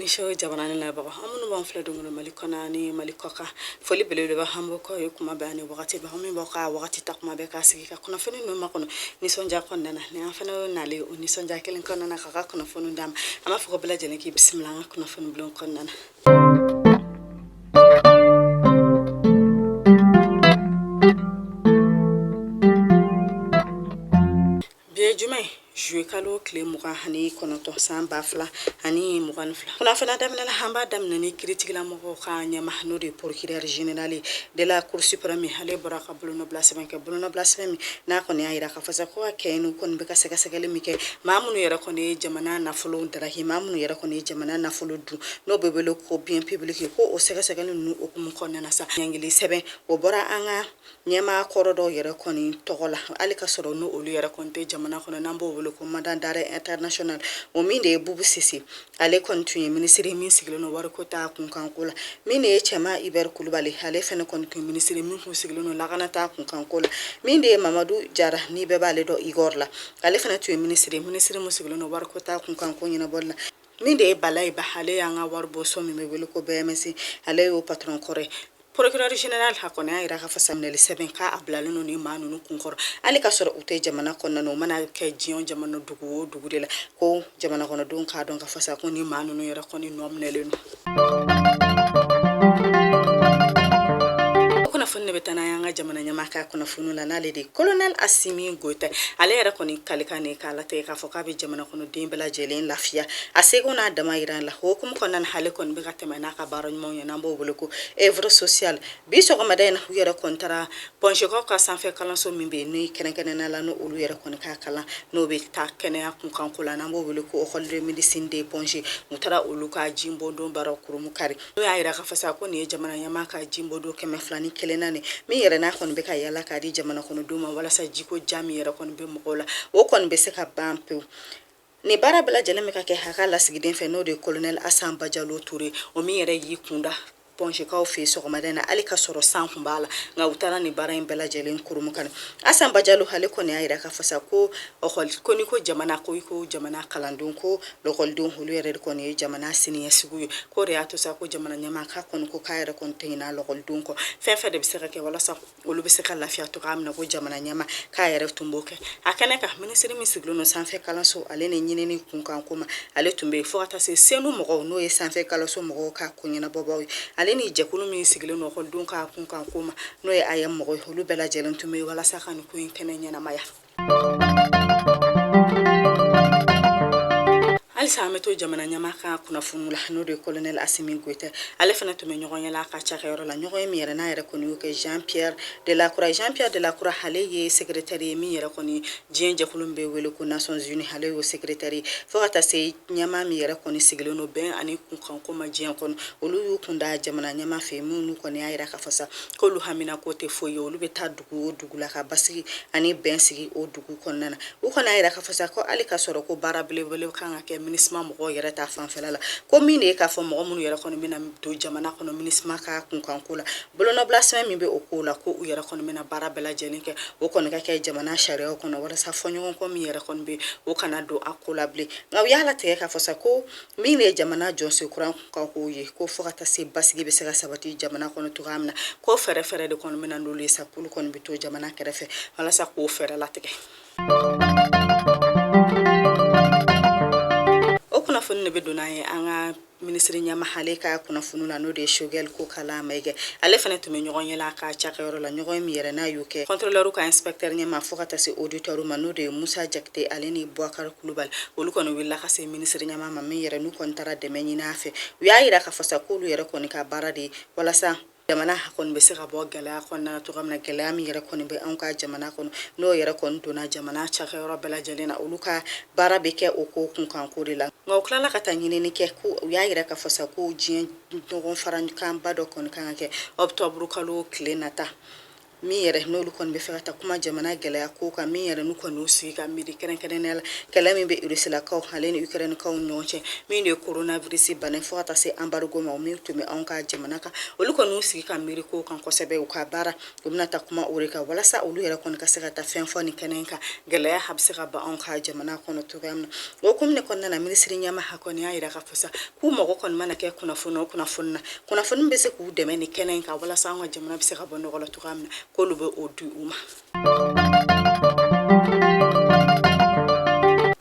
show jamana ni labagaw aw minnu b'an filɛ don go don mali kɔnɔ ni mali kɔkan foli belebeleba an b'o k'aw ye kuma bɛɛ ani wagati bɛɛ aw minnu b'aw ka wagati ta kuma bɛɛ k'aw sigi ka kunnafoni ninnu makɔnɔ nisɔndiya kɔnɔna na ni an fana nalen o nisɔndiya kelen kɔnɔna na ka ka kunnafoni d'aw ma an b'a fɔ k'aw bɛɛ lajɛlen k'i bisimila an ka kunnafoni bulon kɔnɔna na kalo tile mugan ani kɔnɔntɔn san ba fila ani mugan ni fila kunnafoni a daminɛ la an b'a daminɛ ni kiritigilamɔgɔw ka ɲɛmaa n'o de ye procureur général de la cour suprême ale bɔra ka bolonɔbila sɛbɛn kɛ bolonɔbila sɛbɛn min n'a kɔni y'a yira Fɔ sa ko ka kɛɲɛ n'u kɔni bɛ ka sɛgɛsɛgɛli min kɛ maa minnu yɛrɛ kɔni ye jamana nafolo daraki maa minnu yɛrɛ kɔni ye jamana nafolo dun n'o bɛ wele ko bien public ko o sɛgɛsɛgɛli ninnu o hukumu kɔnɔna sa ɲangili sɛbɛn o bɔra an ka ɲɛmaa kɔrɔ dɔw yɛrɛ kɔni tɔgɔ la hali ka sɔrɔ n' olu yɛrɛ kɔni tɛ jamana kɔnɔ n'an b'o wele ko mandat d'arrêt international o min de ye bubu sise ale kɔni tun ye minisiri min sigilen don wariko ta kunkanko la min de ye cɛman ibɛri kulubali ale fana kɔni tun ye minisiri min tun sigilen don lakana ta kunkanko la min de ye mamadu jara ni bɛɛ b'ale dɔn igɔr la ale fana tun ye minisiri minisiri min sigilen don wariko ta kunkanko ɲɛnabɔli la min de ye balayi ba ale y'an ka waribɔso min bɛ wele ko bms ale y'o patron kɔrɔ ye Procureur general a kɔni y'a jira k'a fɔ sa minɛli sɛbɛn k'a bilalen don nin maa ninnu kun kɔrɔ, hali ka sɔrɔ u tɛ jamana kɔnɔna na, u mana kɛ diɲɛ jamana dugu o dugu de la, ko jamanakɔnɔdenw k'a dɔn k'a fɔ sa ko nin maa ninnu yɛrɛ kɔni nɔ minɛlen don. kunnafoni in bɛ taa n'an y'an ka jamana ɲɛmaa ka kunnafoni la n'ale de ye colonel asimi goyita ale yɛrɛ kɔni kalikan de k'a latigɛ k'a fɔ k'a bɛ jamanakɔnɔden bɛɛ lajɛlen lafiya a seko n'a damayira la o hukumu kɔnɔna na ale kɔni bɛ ka tɛmɛ n'a ka baara ɲumanw ye n'an b'o wele ko œuvre sociale bi sɔgɔmada in na u yɛrɛ kɔni taara point g kaw ka sanfɛ kalanso min bɛ yen n'o kɛrɛnkɛrɛn la n' olu yɛrɛ kɔni ka kalan n'o bɛ taa kɛnɛya kun kanko la n'an b'o wele ko école de médecine de point g u taara olu ka jibondon baara kurunbonkari n'o y'a jira k'a fɔ sa ko nin ye jamana ɲɛmaa ka jibondon kɛmɛ fila ni kelennan ye min yɛrɛ n'a kɔni bɛ ka yaala k'a di jamana kɔnɔdenw ma walasa jiko ja min yɛrɛ kɔni bɛ mɔgɔw la o kɔni bɛ se ka ban pewu Nin baara bɛɛ lajɛlen bɛ ka kɛ a ka lasigiden fɛ n'o de ye kolonɛ asa bajalo ture o min yɛrɛ y'i kunda point g kaw fɛ sɔgɔmada in na hali ka sɔrɔ san tun b'a la nka u taara nin baara in bɛɛ lajɛlen kurunbonkari asa bajalo ale kɔni y'a yira k'a fɔ sa ko ekɔli kɔni ko jamana ko i ko jamana kalandenw ko lɔkɔlidenw olu yɛrɛ de kɔni ye jamana siniɲɛsigi ye k'o de y'a to sa ko jamana ɲɛmaa ka kɔni ko k'a yɛrɛ kɔni tɛ ɲinɛ lɔkɔlidenw kɔ fɛn fɛn de bɛ se ka kɛ walasa olu bɛ se ka lafiya cogoya min na ko jamana ɲɛmaa k'a yɛrɛ tun b'o kɛ a kɛnɛ kan minisiri min sigilen don sanfɛ kalanso ale ni ɲinini kunkan ko ma ale tun bɛ yen fo ka taa se cenou mɔgɔw n'o ye sanfɛ kalanso mɔgɔw ka ko ɲɛnabɔbaaw ye ale ni jɛkulu min sigilen don ekɔlidenw ka kunkan ko ma n'o ye aeem mɔgɔw ye olu bɛɛ lajɛlen tun bɛ yen walasa ka nin ko in kɛnɛ ɲɛnamaya halisa an bɛ to jamana ɲɛmaa ka kunnafoni la n'o de ye kolonɛl asimi goyita ale fana tun bɛ ɲɔgɔnye la ka cakɛyɔrɔ la ɲɔgɔnye min yɛrɛ n'a yɛrɛ kɔni y'o kɛ jean pierre de lacroix jean pierre de lacroix ale ye sekretɛri ye min yɛrɛ kɔni diɲɛ jɛkulu min bɛ wele ko nations unies ale y'o sekretɛri fo ka taa se ɲɛmaa min yɛrɛ kɔni sigilen don bɛn ani kunkanko ma diɲɛ kɔnɔ olu y'u kun da jamana ɲɛmaa fɛ minnu kɔni y'a yira k'a fɔ sa k'olu haminanko tɛ foyi ye olu bɛ taa o dugu la ka basigi ani bɛn sigi o dugu kɔnɔna na u kɔni y'a yira k'a fɔ sa ko hali ka sɔrɔ ko baara belebele kan ka kɛ minusma mɔgɔw yɛrɛ ta fanfɛla la ko min de ye k'a fɔ mɔgɔ minnu yɛrɛ kɔni bɛna don jamana kɔnɔ minusma ka kunkanko la bolonɔbila sɛbɛn min bɛ o ko la ko u yɛrɛ kɔni bɛna baara bɛɛ lajɛlen kɛ o kɔni ka kɛ jamana sariyaw kɔnɔ walasa fɔɲɔgɔnkɔ min yɛrɛ kɔni bɛ o kana don a ko la bilen nka u y'a latigɛ k'a fɔ sa ko min de ye jamana jɔsen kura ka ko ye ko fo ka taa se basigi bɛ se ka sabati jamana kɔnɔ cogoya min na ko fɛɛrɛ fɛɛrɛ de kɔni bɛna n'olu ye sa k'olu kɔni bɛ to jamana kɛrɛfɛ walasa k'o fɛɛrɛ latigɛ o kunnafoni de bɛ don n'an ye an ka minisiri ɲɛmaa ale ka kunnafoni na n'o de ye sogɛli kokala maiga ale fana tun bɛ ɲɔgɔnye la ka cakɛyɔrɔ la ɲɔgɔnye min yɛrɛ n'a y'o kɛ kɔntrɔlɛriw ka inspɛktɛri ɲɛmaa fo ka taa se oditɛriw ma n'o de ye musa jakite ale ni buwakari kulubali olu kɔni wulila ka se minisiri ɲɛmaa ma min yɛrɛ n'u kɔni taara dɛmɛ ɲini a fɛ u y'a yira k'a fɔ sa k'olu yɛrɛ kɔni ka baara de ye walasa jamana kɔni bɛ se ka bɔ gɛlɛya kɔnɔna cogoya min na gɛlɛya min yɛrɛ kɔni bɛ anw ka jamana kɔnɔ n'o yɛrɛ kɔni donna jamana cakɛyɔrɔ bɛɛ lajɛlen na olu ka baara bɛ kɛ o ko kunkanko de la nka u tilala ka taa ɲinini kɛ ko u y'a yira k'a fɔ sa ko diɲɛ ɲɔgɔn farakanba dɔ kɔni kan ka kɛ ɔkutɔburu kalo tile nata min yɛrɛ n'olu kɔni bɛ fɛ ka taa kuma jamana gɛlɛya ko kan min yɛrɛ n'u kɔni y'u sigi ka miiri kɛrɛnkɛrɛnnenya la kɛlɛ min bɛ irisilakaw ale ni ukrainkaw ɲɔgɔn cɛ min de ye coronavirus bana fo ka taa se anbarigo ma o min tun bɛ anw ka jamana kan olu kɔni y'u sigi ka miiri ko kan kosɛbɛ u ka baara u bɛna taa kuma o de kan walasa olu yɛrɛ kɔni ka se ka taa fɛn fɔ nin kɛnɛ kan gɛlɛya a bɛ se ka ban anw ka jamana kɔnɔ cogoya min na o hukumu de kɔnɔna na minisiri ɲɛmaa kɔni y'a yira k'a fɔ sa k'u mago kɔni mana kɛ kunnafoni o kunnafoni na kunnafoni bɛ se k'u dɛmɛ nin kɛnɛ in kan walasa an ka jamana bɛ se ka bɔ nɔgɔ la cogoya min na k'olu bɛ o di u ma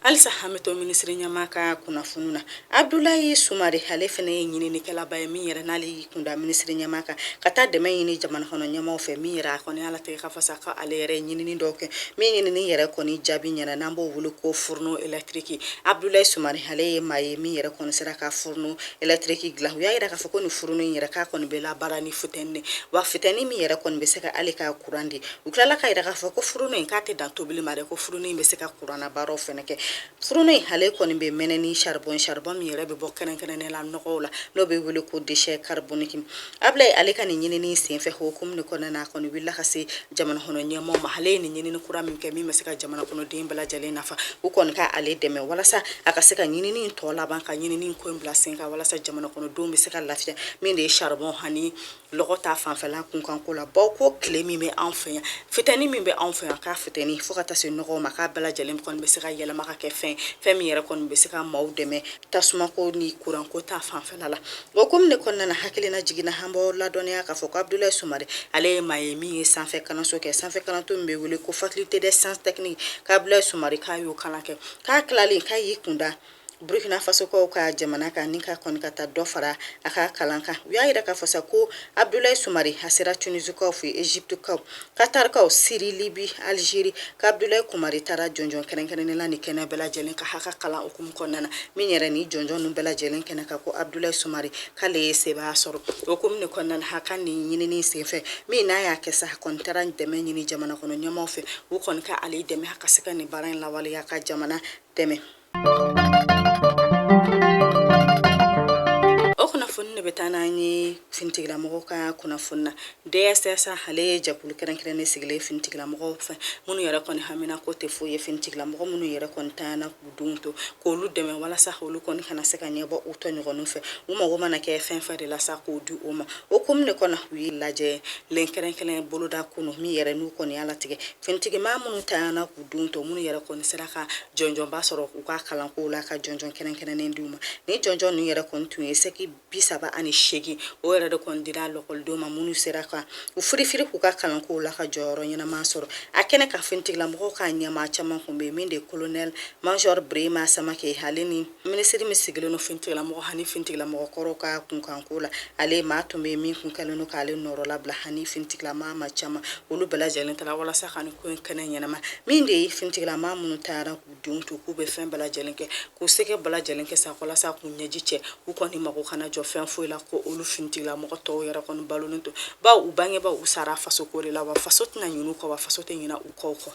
halisa an bɛ to minisiri ɲɛmaa ka kunnafoni na abudulayi sumare ale fana ye ɲininikɛlaba ye min yɛrɛ n'ale ye kunda minisiri ɲɛmaa kan ka taa dɛmɛ ɲini jamana kɔnɔ ɲɛmaaw fɛ min yɛrɛ a kɔni ala tɛ ka fasa ka ale yɛrɛ ɲinini dɔw kɛ min ɲinini yɛrɛ kɔni jaabi ɲɛna n'an b'o wele ko fourneau électrique abudulayi sumare ale ye maa ye min yɛrɛ kɔni sera ka fourneau électrique dilan u y'a yira k'a fɔ ko nin fourneau in yɛrɛ k'a kɔni bɛ labaara ni futɛni de wa futɛni min yɛrɛ kɔni bɛ se ka ale ka kuran di u tilala k'a yira k'a fɔ ko fourneau in k'a tɛ dan tobili ma dɛ ko fourneau in bɛ se ka kurannabaaraw fɛnɛ kɛ fourneau in ale kɔni bɛ mɛnɛ ni charbon charbon min yɛrɛ bɛ bɔ kɛrɛnkɛrɛnnen la nɔgɔw la n'o bɛ wele ko déchet carbonique ablaye ale ka nin ɲinini senfɛ hukumu de kɔnɔna na a kɔni wulila ka se jamana kɔnɔ ɲɛmaaw ma ale ye nin ɲinini kura min kɛ min bɛ se ka jamana kɔnɔden bɛɛ lajɛlen nafa u kɔni ka ale dɛmɛ walasa a ka se ka ɲinini tɔ laban ka ɲinini ko in bila sen kan walasa jamana kɔnɔdenw bɛ se ka lafiya min de ye charbon ani lɔgɔ ta fanfɛla kunkanko la baw ko tile min bɛ anw fɛ yan fitɛni min bɛ anw fɛ yan k'a fitɛni fo ka taa se nɔgɔw ma k'a bɛɛ lajɛlen kɔni bɛ se ka yɛlɛma ka kɛ fɛn fɛn min yɛrɛ kɔni bɛ se ka maaw dɛmɛ tasumako ni kuranko ta fanfɛla la o hukumu de kɔnɔna na hakilina jiginna an b'aw ladɔnniya k'a fɔ ko abudulayi sumare ale ye maa ye min ye sanfɛ kalanso kɛ sanfɛ kalanso min bɛ wele ko faculté des sciences techniques k'abudulayi sumare k'a y'o kalan kɛ k'a tilalen k'a y'i kunda Burukina Fasokaw ka jamana kan ni ka kɔni ka taa dɔ fara a ka kalan kan u y'a yira k'a fɔ sa ko Abudulayi Sumare a sera Tunisikaw fɛ Egyptekaw Katarikaw Siri Libi Algérie k'Abudulayi Sumare taara jɔnjɔn kɛrɛnkɛrɛnnen la nin kɛnɛ bɛɛ lajɛlen kan a ka kalan hukumu kɔnɔna na min yɛrɛ ni jɔnjɔn ninnu bɛɛ lajɛlen kɛnɛ kan ko Abudulayi Sumare k'ale ye sebaaya sɔrɔ o hukumu de kɔnɔna na a ka nin ɲinini senfɛ min n'a y'a kɛ sa a kɔni taara dɛmɛ ɲini jamana kɔnɔ ɲɛmaaw fɛ u kɔni ka ale dɛmɛ a ka se ka nin baara in lawaleya ka jamana dɛmɛ finitigilamɔgɔw ka kunnafoni na DSSA ale ye jɛkulu kɛrɛnkɛrɛnnen sigilen finitigilamɔgɔw fɛ minnu yɛrɛ kɔni hamina ko tɛ foyi ye finitigilamɔgɔ minnu yɛrɛ kɔni tanyana k'u denw to k'olu dɛmɛ walasa olu kɔni kana se ka ɲɛbɔ u tɔɲɔgɔnninw fɛ u mago mana kɛ fɛn fɛn de la sa k'o di u ma o hukumu de kɔnɔ u ye lajɛrɛ kɛrɛnkɛrɛn boloda kunu min yɛrɛ n'u kɔni y'a latigɛ finitigimaa minnu tanyana k'u denw to minnu yɛrɛ kɔni sera ka jɔnjɔnba sɔrɔ u ka kalankow la ka jɔnjɔn kɛrɛnkɛrɛnnen d'u ma ni jɔnjɔn ninnu yɛrɛ kɔni tun ye sɛki bi saba ani seegin o yɛrɛ de kɔni dira lɔkɔlidenw ma minnu sera ka u firifiri k'u ka kalankow la ka jɔyɔrɔ ɲɛnama sɔrɔ a kɛnɛ kan finitigilamɔgɔw ka ɲɛmaa caman tun bɛ min de colonel major berema samakɛ ale ni Minisiri min sigilen don finitigilamɔgɔ ani finitigilamɔgɔ kɔrɔw ka kunkanko la ale maa tun bɛ min kun kɛlen don k'ale nɔrɔlabila ani finitigilamaa maa caman olu bɛɛ lajɛlen taara walasa ka ko in kɛnɛ ɲɛnama min de ye finitigilamaa minnu taara k'u denw to k'u bɛ fɛn bɛɛ lajɛlen kɛ k'u seko bɛɛ lajɛlen kɛ sa walasa k'u ɲɛji cɛ u kɔni mago kana jɔ fɛn foyi la ko olu finitigilamɔgɔ tɔw yɛrɛ kɔni balolen don baw u bangebaw u sara fasoko de la wa faso tɛna ɲinɛ u kɔ wa faso tɛ ɲinɛ u kɔ kɔ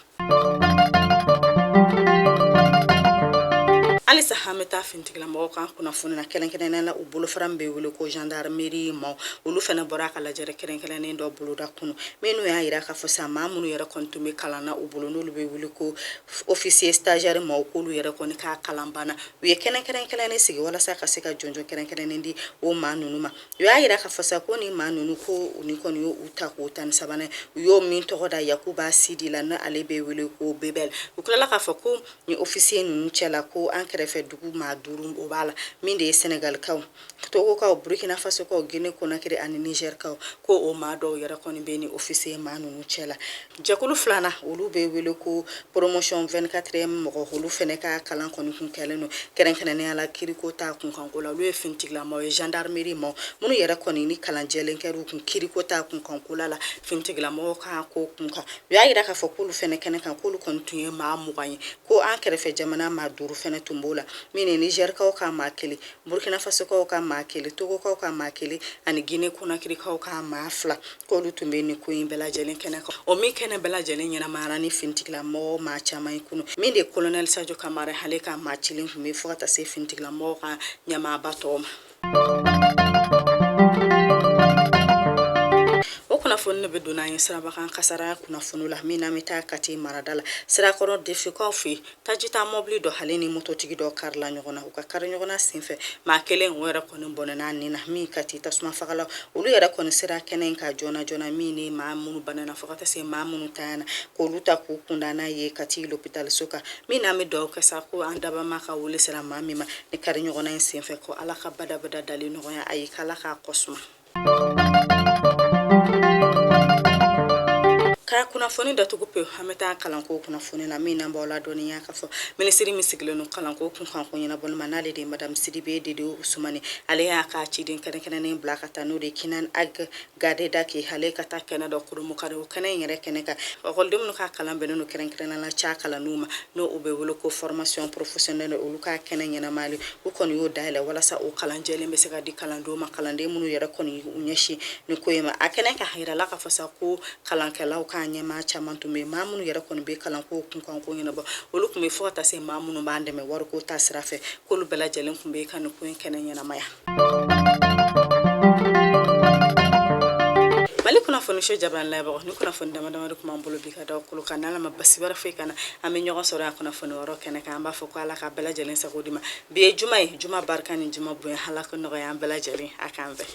halisa an bɛ taa finitigilamɔgɔw kan kunnafoni na kɛrɛnkɛrɛnnenya la u bolofara min bɛ wele ko gendarmerie maw olu fana bɔra a ka lajɛrɛ kɛrɛnkɛrɛnnen dɔ boloda kunu minnu y'a yira k'a fɔ sa maa minnu yɛrɛ kɔni tun bɛ kalan na u bolo n'olu bɛ wele ko officier stagiaire maw k'olu yɛrɛ kɔni ka kalan banna u ye kɛnɛ kɛrɛnkɛrɛnnen sigi walasa ka se ka jɔnjɔn kɛrɛnkɛrɛnnen di o maa ninnu ma u y'a yira k'a fɔ sa ko ni maa ninnu ko u ni kɔni y'u tako tan ni sabanan ye u y'o min tɔgɔ da yakuba sidi la n' ale bɛ wele ko bebɛl u tilala k'a fɔ ko ni officier ninnu cɛ la ko an kɛrɛfɛ dugu maa duuru o b'a la min de ye sɛnɛgalikaw togokaw burukina fasokaw gine konakiri ani nizerikaw ko o maa dɔw yɛrɛ kɔni bɛ ni officier maa ninnu cɛ la Jɛkulu filanan olu bɛ wele ko promotion 24 mɔgɔ olu fana ka kalan kɔni kun kɛlen don kɛrɛnkɛrɛnnenya la kiriko ta kunkanko la olu ye finitigilamɔgɔ ye gendarmerie maa minnu yɛrɛ kɔni ni kalanjɛlen kɛra u kun kiriko ta kunkankola la ftigilama kan ko kunkan u y'a yira k'a fɔ k'olu fana kɛnɛ kan k'olu kɔni tun ye maa mugan ye ko an kɛrɛfɛ jamana maa duuru fana tun b'o la min ye nizerikaw ka maa kelen burukinafasokaw ka maa kelen togokaw ka maa kelen ani gine konakirikaw ka maa fila k'olu tun bɛ nin ko in bɛɛ lajɛlen kɛnɛ kan o min kɛnɛ bɛɛ lajɛlen ɲɛnamayara ni finitigilamɔgɔ maa caman ye kunu min de kolonɛli sajo kamara hale ka maa cilen tun bɛ fo ka taa se finitigilamɔgɔ ka ɲɛmaaba tɔw ma kunnafoni ne bɛ don an ye sirabakan kasara kunnafoni la min n'an bɛ taa kati marada la sirakɔrɔ dunfinkaw fɛ tajita mɔbili dɔ hali ni mototigi dɔ karila ɲɔgɔn na u ka kari ɲɔgɔnna senfɛ maa kelen o yɛrɛ kɔni bɔnɛna nin na min kati tasumafagala olu yɛrɛ kɔni sera kɛnɛ in kan joona joona min ni maa minnu banana fo ka taa se maa minnu tanyana k'olu ta k'u kunda n'a ye kati lopitaliso kan min n'an bɛ dugawu kɛ sa ko an dabama ka wele sera maa min ma ni kari ɲɔgɔnna in senfɛ ko ala ka badabada dali nɔgɔya a ye k'ala k'a kɔsuma ka kunnafoni datugu pe an bɛ taa kalanko kunnafoni na min n'an b'aw ladɔniya k'a fɔ minisiri min sigilen don kalanko kunkanko ɲɛnabɔli ma n'ale de madamu sidibe dedewu usumani ale y'a ka ciden kɛrɛnkɛrɛnnen bila ka taa n'o de kinan ag gadeda ko hale ka taa kɛnɛ dɔ kurumukari o kɛnɛ in yɛrɛ kɛnɛ kan lɛkɔliden minnu ka kalan bɛnnen don kɛrɛnkɛrɛnnenya la ca kalanniw ma n'o u bɛ wele ko formation professionnelle olu ka kɛnɛ ɲɛnamali u kɔni y'o dayɛlɛ walasa o kalanjɛlen bɛ se ka di kalandenw ma kalanden minnu yɛrɛ kɔni u ɲɛsin nin ko in ma a kɛnɛ kan a yirala k'a fɔ sa ko kalankɛlaw ka ɲɛmaa caman tun bɛ maa minnu yɛrɛ kɔni bɛ kalanko kunkanko ɲɛnabɔ olu tun bɛ fo ka taa se maa minnu b'an dɛmɛ wariko ta sira fɛ k'olu bɛɛ lajɛlen tun bɛ ka nin ko in kɛnɛ ɲɛnamaya mali kunnafoni so ja la ni kunnafoni damadama tun b'an bolo bi ka da kolo kan n'ala ma baasi wɛrɛ foyi kana an bɛ ɲɔgɔn sɔrɔ yan kunnafoni wɔrɔ kɛnɛ kan an b'a fɔ ko ala ka bɛɛ lajɛlen sago d'i ma bi ye juma ye juma barika ni juma bonya ala k'o nɔgɔya an bɛɛ lajɛlen a k'an bɛɛ